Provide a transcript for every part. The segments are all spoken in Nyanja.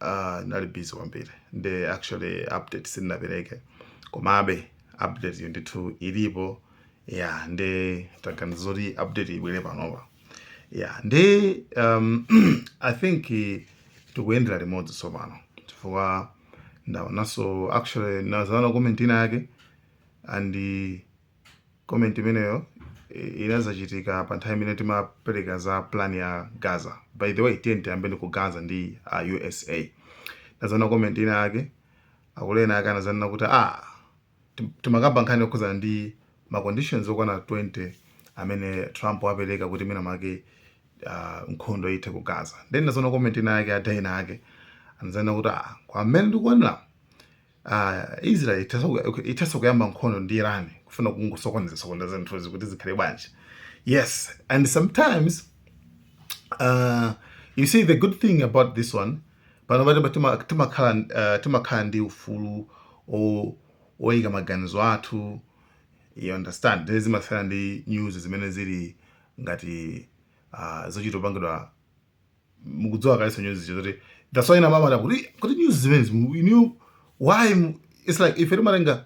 Uh, nali busy kwambiri nde actually update sindinapereke komabe update yo ndithu ilipo ya nde taganiza zoti update ibwere panopa ya nde um, i think tikuyendera limodzi tsopano chifukwa ndaonanso actually nazana comment ina yake and comment imeneyo eh, inazachitika pa nthawi imene timapereka za plan ya gaza by the way tiyeni tiyambeni ku gaza ndi usa nazana comment ina yake akulu ena ake anazanena kuti ah tim- timakamba nkhani yokhudzana ndi ma conditions okwana 20 amene trump wapereka kuti mwina mwake ah, nkhondo ithe ku gaza then nazana comment ina yake ada ena ake anazanena kuti ah kwa mmene ndikuonera Ah, Israel ithanso ku- ithanso kuyamba nkhondo ndi Iran kufuna kungosokoneza sokoneza zinthuzi kuti zikhale bwanji yes and sometimes uh, you see the good thing about this one pano pati tima- timakhala uh, timakhala ndi ufulu o- oyika maganizo athu you understand Nde zimasiyana ndi news zimene zili ngati uh, zochita kupangidwa mukudziwa kalenso news zoti that's why namama ta kuti kuti news zimene zimu- you know why mu- it's like ife timatenga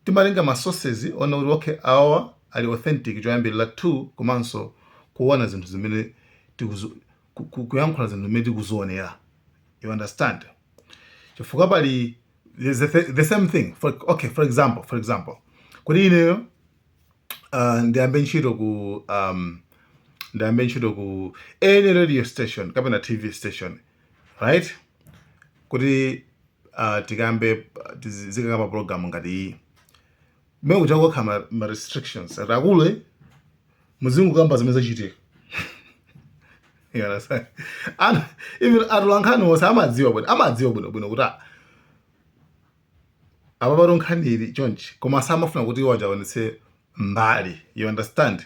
timatenga ma sources oona kuti okay awa ali authentic choyambirira two komanso kuona zinthu zimene tikuzo- ku- ku- kuyankhula zinthu zimene tikuzionera you understand chifukwa pali there's the, the same thing for, okay for example for example kuti ineyo uh, ndiyambe ntchito ku um, ndiyambe ntchito ku any radio station kapena tv station right kuti uh, tikambe uh, tizi- zikakamba program ngati iyi mmene kuja kukhala ma, ma restrictions ati akulu muzingokamba zimene zachitika You understand? And even atolankhani onse amadziwa bwino amadziwa bwino bwino kuti ah, apapatu nkhani ili chonchi koma samafuna kuti iwo aja aonetse mbali you understand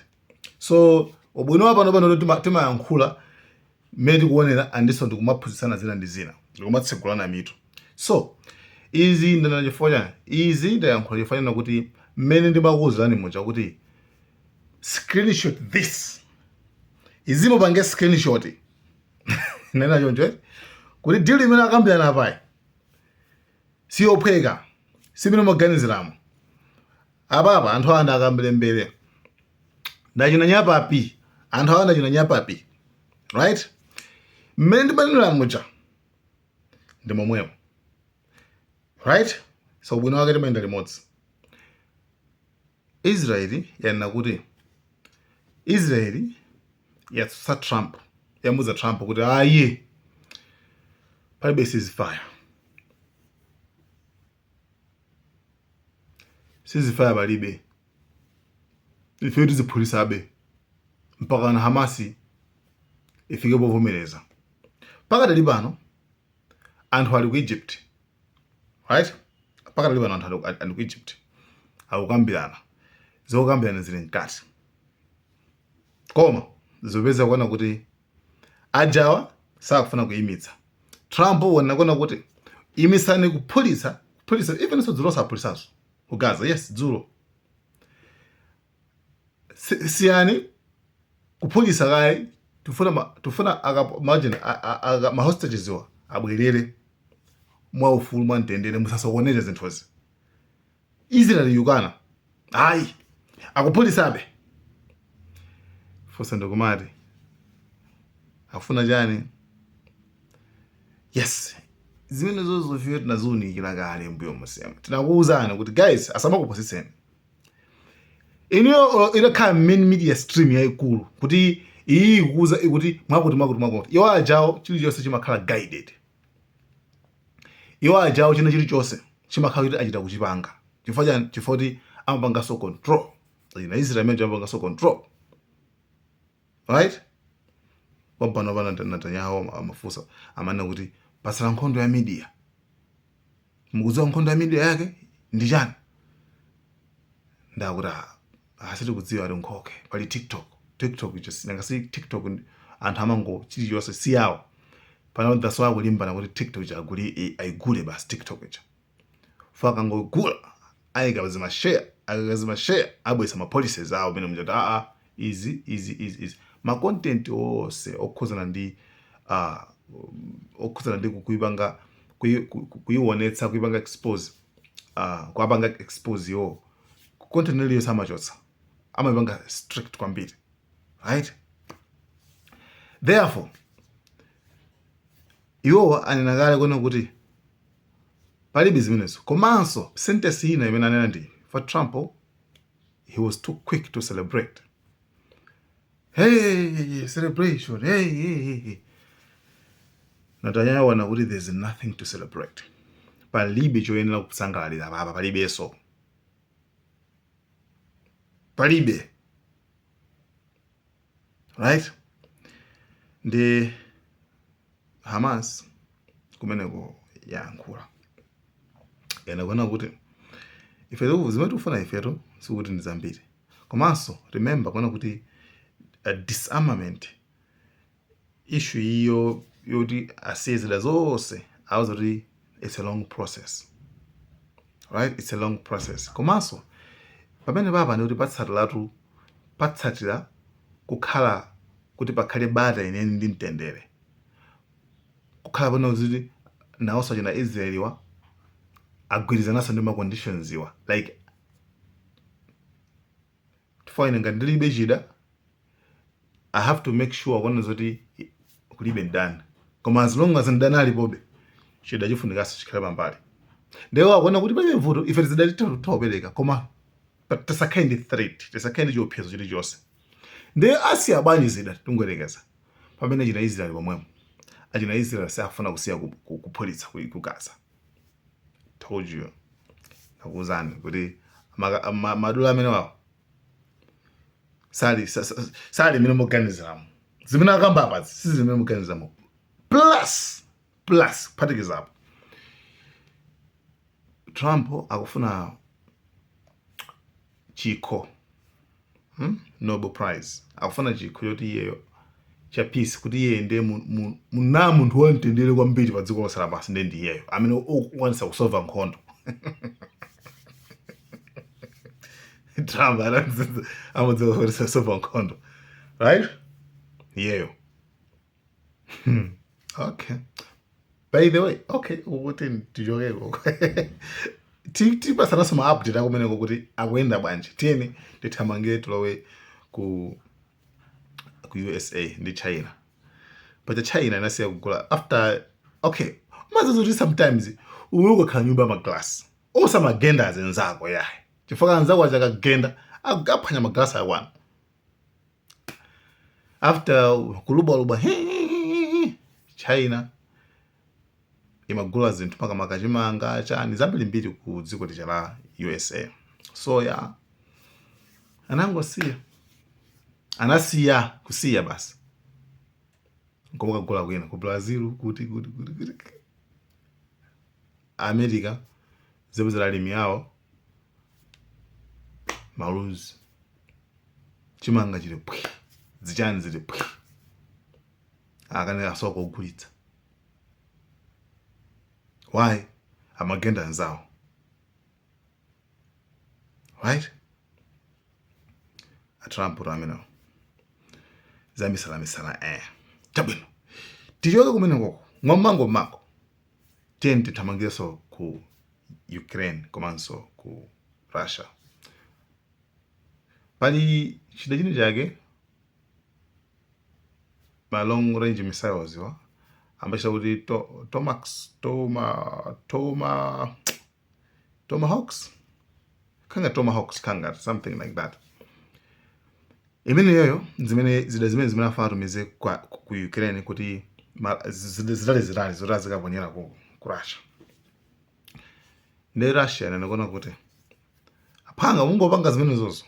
so ubwino wa pano pano tima- timayankhula mmene tikuonera andinso ndikumaphunzitsana zina ndi zina ndikumatsegulana mitu so izi ndanena chifukwa chani izi ndayankhula chifukwa chonena kuti mmene ndimakuwuzirani muja kuti screenshot this izi mupange screenshot nena choncho eh? kuti deal imene akambirana apayi siyophweka si mmene mumaganiziramo apapa anthu awa ndakamberembere ndachina nyapapi anthu awa ndachina nyapapi right mmene ndimanenera muja ndi momwemo right so ubwino wake timayenda limodzi Israel yanena kuti Israel yatsutsa Trump yamuuza Trump kuti ayi palibe ceasefire ceasefire palibe ife tiziphulitsabe mpaka na Hamasi ifike povomereza pakadali pano anthu ali ku Egypt right pakadali pano anthu ali ku egypt akukambirana zokambirana zili mkati koma zopeza kuona kuti ajawa sakufuna kuyimitsa trump wona kuona kuti imisani kuphulitsa kuphulitsa even so dzulo aphulitsanso ku gaza yes dzulo si- siyani kuphulitsa kaye tifuna ma- tifuna aka- imagine a- a- aka- ma hostages wa abwerere mwa ufulu mwa mtendere musasokoneze zinthuzi israel yukana ayi akuphulitsabe funso ndi kumati akufuna chani yes zimene zonsezo ifeyo tinaziunikira kale mbuyomu, tsema tinakuwuzani kuti guys asamakupusitseni olo itakhala main media stream yaikulu kuti iyi ikukuuza ikuti mwakuti mwakuti mwakuti iwo ajawo chilichonse chimakhala guided iwo ajawo china chilichonse chimakhala kuti achita kuchipanga chifukwa chani chifukwa kuti amapanganso control ndi israel imene amapanganso control right panopa pano netanyahu amafunsa amanena kuti patsala nkhondo ya media mukudziwa nkhondo ya media yake ndi chani ndikuti "Ah, ah, sitikudziwa ati nkhoke pali tiktok tiktok ija si- nanga si tiktok ndi- anthu amango chilichonse si yawo pano that's why akulimbana kuti tiktok ija aguli i- ayigule basi tiktok ija akangoigula aika zima share akaika zima share abweretsa ma policies awo mene muja kuti aa izi izi izi izi ma content onse okhuzana ndi uh, okhuzana ndi kuipanga kuiwonetsa kuipanga expose uh, kuapanga expose iwowo content iliyonse amachotsa amaipanga strict kwambiri right therefore iwowa anena kale kunena kuti Palibe zimenezo komanso sentence ina imene anena ndi for Trump he was too quick to celebrate. Hey, celebration. Hey, hey, hey. Netanyahu wanena kuti there's nothing to celebrate. Palibe choyenera kusangalalira apapa palibeso. Palibe. Right? Ndi Hamas kumeneko yayankhula ena kunena kuti ife zimene tikufuna ifetu sikuti ndi zambiri komanso remember kunena kuti uh, disarmament issue iyo yoti asiye zida zonse auza kuti it's a long process right it's a long process komanso pamenepapa ndi kuti patsatiratu patsatira kukhala kuti pakhale bata lenileni ndi mtendere kukhala pano kuti nawonso achina israeliwa agwirizananso ndi maconditionsiwa like chifukwa ine ngati ndilibe chida i have to make sure kuona zoti kulibe mdani koma as long as mdani alipobe chida chifunikanso chikhale pambali ndewo akuona kuti palibe vuto ife tizidati titha kupereka koma but tisakhale ndi threat tisakhale ndi chiopsezo chilichonse ndiye asiya bwanji zida tingoyerekeza pamene achina israeli omwewo achina israeli safuna kusiya ku- ku- kuphulitsa ku- ku gaza told you nakuuzani kuti maka- ma- madilu amenewawa sali sa- sa- sali mmene muganiziramo zimene akamba apazi si zimene muganiziramo plus plus kuphatikiza apo trump akufuna chikho hmm? Nobel Prize akufuna chikho choti iyeyo cha peace kuti iye ndiye muna munthu wamtendere kwambiri pa dziko lonse lapansi ndiye ndiyeyo amene ukwanisa kusova nkhondo Trump amadziwa kusova nkhondo right iyeyo yeah. okay by the way okay uku tichokeko tipasananso maupdate akumeneko kuti akuyenda bwanji tiyeni tithamange tilowe ku ku usa ndi china paja china inasiya kugula after okay umadziwa kuti sometimes iwe ukakhala nyumba ya maglasi osamagenda azinzako yayi chifukwa anzako aja akagenda akaphwanya maglasi akwanu after kulubwalubwa he, he, he, he, china imagula zinthu makamaka chimanga chani zambirimbiri ku dziko lija la usa soya anangosiya anasiya kusiya basi nkumakagula kwina ku brazil kuti kuti kuti kuti america zipezera alimi awo maluzi chimanga chili pwi zichani zili pwi akanika nkogulitsa why amagenda anzawo right a Trump tu amenewo zamisala misala eh chabwino tichoke kumenekoko mwam'mangom'mango Tiyeni tithamangirenso ku Ukraine komanso ku Russia. Pali chida china chake ma long range missiles awa amachita kuti to, tomax toma toma tomahawks kangati tomahawks kangati something like that imeneyoyo zimene zida zimene zimene afuna atumize kwa- ku ku ukraine kuti ma- zida zitali zitali zoti azikaponyera ku ku russia nde russia yanachenjeza kuti apanga mungapange zimenezozo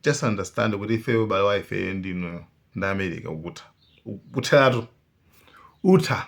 just understand kuti ifeyo ubale wa ifeyo ndi inuyo ndi america utha ukutheratu utha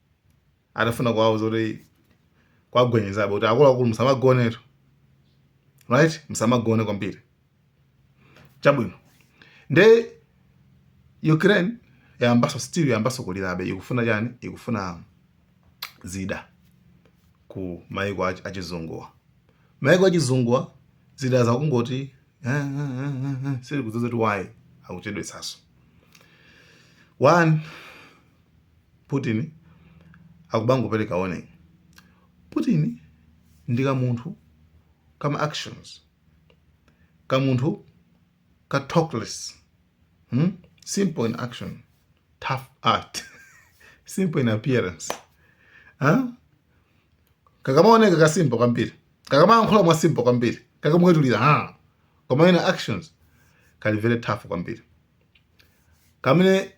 atafuna kuwauza kuti kuwagwenyezabe kuti akuluakulu musamagonetu right musamagone kwambiri chabwino nde ukraine yayambaso still yayambaso kulirabe ikufuna chani ikufuna zida ku maiko ach- achizunguwa maiko achizunguwa zida zakungoti "Ah, ah, ah, ah, ah," sili kudziwa kuti why akuchedwetsaso one Putin akumangopereka warning. Putin ndi ka munthu kama actions. Ka munthu ka talkless. Hmm? Simple in action. Tough art. Simple in appearance. Huh? Kakamaoneka ka simple kwambiri. Kakamayankhula mwa simple kwambiri. Kakamwetulira ha. Koma in actions kali very tough kwambiri. kamene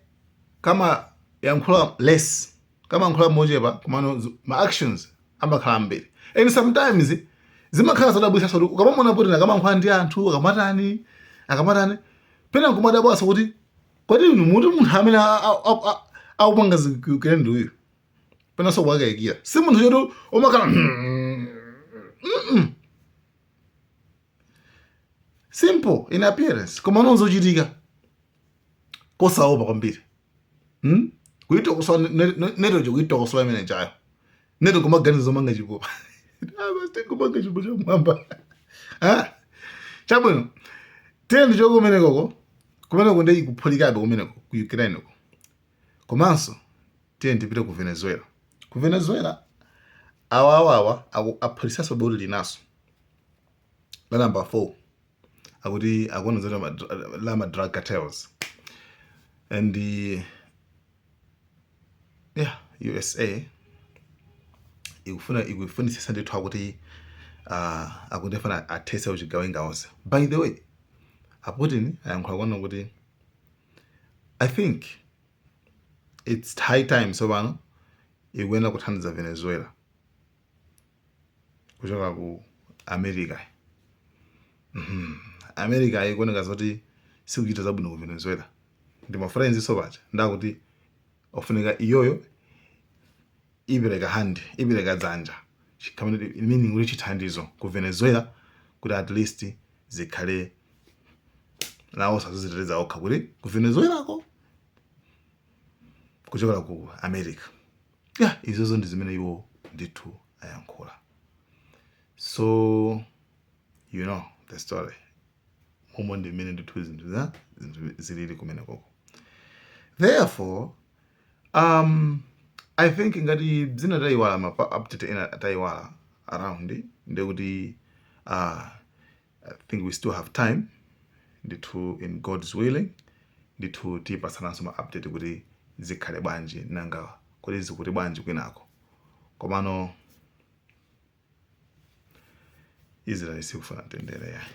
kamayankhula less kamankhula mochepa komano zi- ma actions amakhala ambiri and sometimes zimakhala zodabwitsa kuti ukamamuona Putin akamankhula ndi anthu akamatani akamatani pena nkumadabwanso kuti kodi inu muti munthu amene a- a- a- a- akupanga ziku Ukraine ndi uyu penanso kumakayikira si munthu choti umakhala simple in appearance koma mu zochitika kosaopa kwambiri hmm? kuitokosola NATO kuitokosola imene ija NATO kumaganiza zomanga chipupa kumanga ah, chipupa chamwamba ah? chabwino tiyeni tichoke kumenekoko kumeneko nde ikuphulikabe kumeneko ku ukraine ko Komanso tiyeni tipite ku Venezuela. Ku Venezuela awawawa aphulitsaso boti linaso la number 4 akuti akuona zoti la ma drug cartels and uh, yeah USA ikufuna ikufunisisa ndithu akuti uh, akuti afuna athese uchigawenga onse by the way a Putin ayankhula kuona kuti i think its high time tsopano ikuyenera kuthandiza venezuela kuchoka ku america Mhm. america ikuoneka zoti sikuchita zabwino ku venezuela ndi ma friend-nso paja ndakuti afunika iyoyo ipereke hand, ipereke dzanja, chi meaning kuti chithandizo ku Venezuela kuti at least zikhale naoso aziziteteza okha kuti ku Venezuela ko kuchokera ku America. Yeah, izozo ndi zimene iwo ndithu ayankhula. So you know the story. Umo ndi mmene ndithu zinthu za zinthu zilili kumenekoko. Therefore, um, I think ngati zina tayiwala ma pa- update ena tayiwala around ndiye kuti uh, I think we still have time ndithu in God's willing ndithu tipatsananso ma update kuti zikhale bwanji nanga kodi zikuti bwanji kwinako komano Israeli sikufuna mtendere yayi.